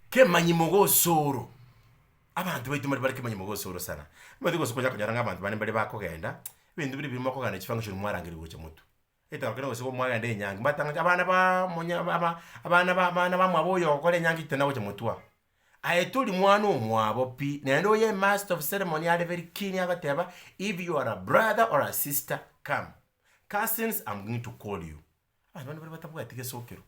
Kemanyi mogosoro, abanto baito mbare kemanyi mogosoro sana, omanyete gose okonya konyora ng'a abanto bande mbare bakogenda, ebinto bire ebiya mogokogenda ne chifunction mwarangeria gocha motwe, etango kere gose mwagenda enyangi mwatangocha abana baa monyaa ba- ba abana ba abana ba mwabo oyo ogokora enyangi titana gocha motwe aa. Aye tori mwana omwabo pi, naende oyo emaster of ceremony are very keen agoteba if you are a brother or a sister come, cousins am going to call you, Abanto bane baria batabwati gesokero.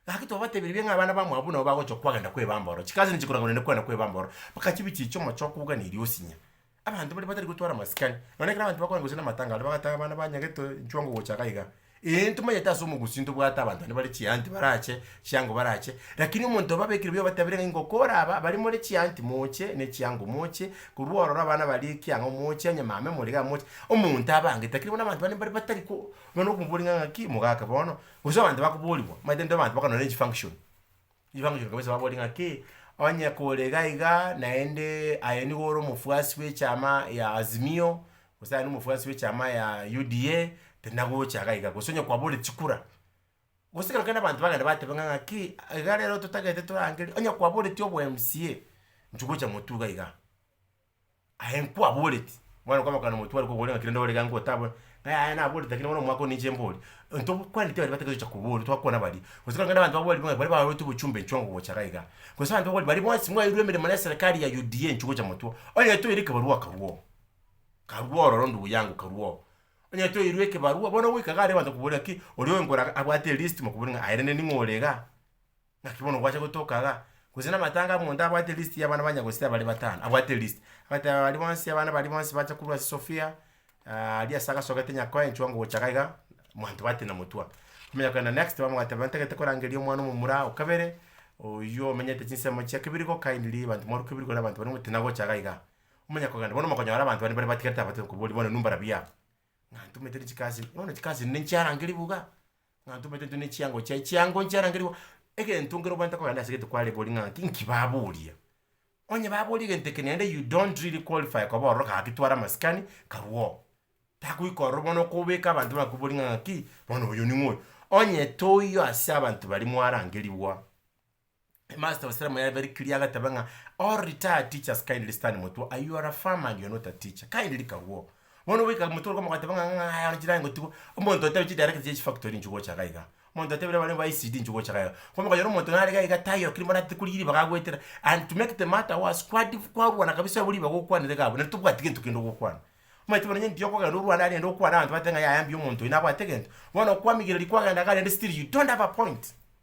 Gaki twabatebirie ng'a abana ba Moabu nabo bagochia kwagenda kwebamba ororo. Chikazi nigo chikorwa korende kwenda kwebamba ororo, mpaka chibe chiiche omochie okobugana erio osinya. Abanto baria batari gotwara amasikani, nonya ekero abanto bakorenge gose namatanga aria bagataga abana banyagete inchwe ongo gocha iga iga. Eeh ntomanyete ase omogusii ntobwate abanto bane bare chianti barache, chiango barache, lakini omonto obabekire buya obatebirie ng'a ingoko oraba, baria more chianti moche, ne chiango moche, korwa ororo abana baria ekiang'o moche, onye mama emoriga moche, omonto abe angete, lakini bono abanto bane mbaria batari ko Bono okomobori ng'a ng'aki mogaka bono, gose abanto bakoborigwa, omanyete nto abanto bakorwa ne chifunction, chifunction kabisa babori ng'aki, onye kore iga igaa, naende aye nigo ore omofuasi bw'echama ya Azimio, gose aye nomofuasi bw'echama ya UDA, tinagocha iga iga, gose onye kwaborire chikura, gose kero kende abanto bagenda bateba ng'a ng'aki, iga rero totagete torangerie, onye kwaboreti obo mca, inchugocha motwe iga igaa. Aye nkwaboreti, mwana okomoka nomotware kogore ng'a kera nde ore iga ngotabwe, ng'a yaya naboreti lakini bono omwaka one inche mbori. Into kwaneti baria batagete gocha kobori twakwana baria, gose kang'ende abanto babori buna baria baroreti bochumba enchwa ngogocha iga iga. Gose abanto babori baria bonsi mwairwe emeremo ne eserekari ya UDA enchwe gocha motwo, onye toire ekebarua akarua oo, karua ororo ndugu yangu karua oo. Onye toirwe ekebarua bono goika iga abanto bakobore ng'aki oria oenkora abwate elist mokobori ng'a aye rende ning'o ore igaa. Naki bono gwacha gotoka iga, gose namatanga omonto abwate list yabana ba nyagose abare batano, abwate list, agateba baria bonsi abana baria bonsi bacha korwa ase Sofia, aria ase agasogete nyakoe enchwa ngocha iga iga, mwanto bati na motwa. Komanya kogenda next time bagobateba ntagete korangeria omwana omomura o kabere, oyio omenyete chinsemo chia kebirigo kindly banto mwarwa kebirigo na abanto baria motina gocha iga iga. Omanya kogenda bono omokonyora abanto baria mbare batigarete abatiga koboria bono nu mbarabia? Ng'a ntumete ne chikazi, bono chikazi ne nchiarangeria buga. Ng'a ntomanyete intwe ne chiango chiaye, chiango nchiarangerigwe egento nkere obwanete kogenda ase egento kware boria ng'a inki baboria. Onye baboria egento eke naende you don't really qualify koba ororo gaki twara amasikani karue oo. Tagoika ororo bono okobeka abanto bakobori ng'a ng'aki bono oyo ning'o oyo. Onye toiyo ase abanto baria mwarangerigwa. Headmaster ose taramoyare very clear agateba ng'a all retired teachers kindly stand motwe are you are a farmer and you are not a teacher kindly kagwo bono goika motwe oroka mogateba ng'a ng'aya one chirangi gotigwa omonto otebi chidirector chia chifactory inche gocha iga iga omonto otebire bare ba ECD inche gocha iga iga ko mokonyora omonto nare iga iga taiyo keri morwate korigia ribaga agoetera and to make the matter worse kwadi kwarwana kabisa abwo ribaga okwanire iga abwo naende tobwati gento kende gokwana omanyete bono onye mbuya okogenda orwane aria naende okwane abanto bateba ng'a yaya mbuya omonto oyo nabwate egento bono kwamigereri kwagenda iga naende still you don't have a point.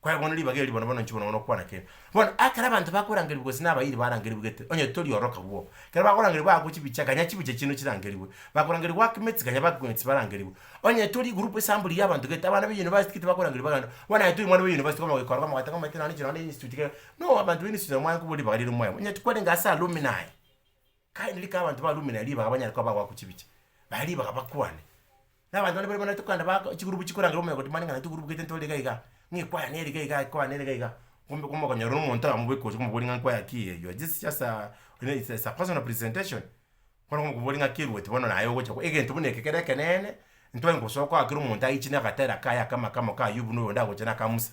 Kwerwa ng'a ribaga eri bono bono inche bono ng'a nokwana kere. Bono ekero abanto bakorangerigwa gose nabayiri barangerigwe gete, onye tori oro kabuo, ekero bakorangerigwa bagokwa chibicha kanya chibicha chi'nde chirangerigwe, bakorangerigwa ake emeti kanya bagokwa emeti barangerigwe. Onye tori egroup esambuli y'abanto gete, abana ba university gete bakorangerigwa bagende, bono naye tori omwana bwa university bono ogoika oroka mogoteba omanyete nonye inche nonye ne institute kegeo, no abanto ba institute nabo mwankoboria ribaga riria omoe, onye kwarenge ase alumni. Kaende rika abanto ba Rumi na ribaga banyare koba abagwakwa chibicha, baye ribaga bakwane. Na abanto baria bare banaete kogenda bako chigroup chikorangera omonyene goti mani ng'a naintwe group gete ntore iga iga, ng'a ekwayana ere iga iga ekwayana ere iga iga, kumbe kumbe okonyora omonto akamobeka gocha komoboria ng'a nkwaya ki eye, your this just a it's it's a personal presentation, bono okomoboria ng'a ki eruoti bono naye ogocha ko egento buna eke kere ekeneene, ntware gosoa kwaa kera omonto aichi nagatera kaye akama kamo ka Ayubu na oyonde agocha na aka Musa.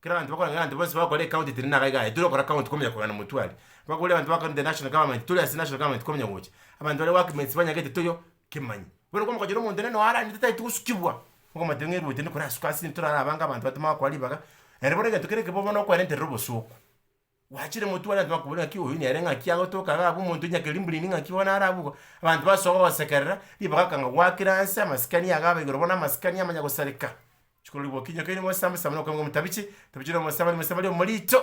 Ekero abanto bakorora ng'a abanto bonsi bagokora ecounty tiri naga iga aye, tiri gokora county komenya kogenda motwari, bakore abanto bakorire the national government tore ase national government komenya gocha, abanto baria workmates banyagete toyo kemanya. Bono ekero omogochera omonto onene nonya aranete tari togosukigwa, okomotebia ng'a eruoti nikorasuka ase intwe torare abange abanto batoma bagokora ribaga, ere bono egento kere ekebe bono okoerenterera obosooku. Gwachire motware abanto bakobore ng'aki oyo nere ng'aki agotoka iga abwo omonto nyakeri mburindi ng'aki bono nare abwo, abanto basoa gogosekerera, ribaga akanga goakera anse amasikani iga abe igoro bono amasikani amanya gosareka. Chikoro ribokinyokeire ng'osamba samba nokoegwa motabiche, tabiche nomosabani, mosabani omorito.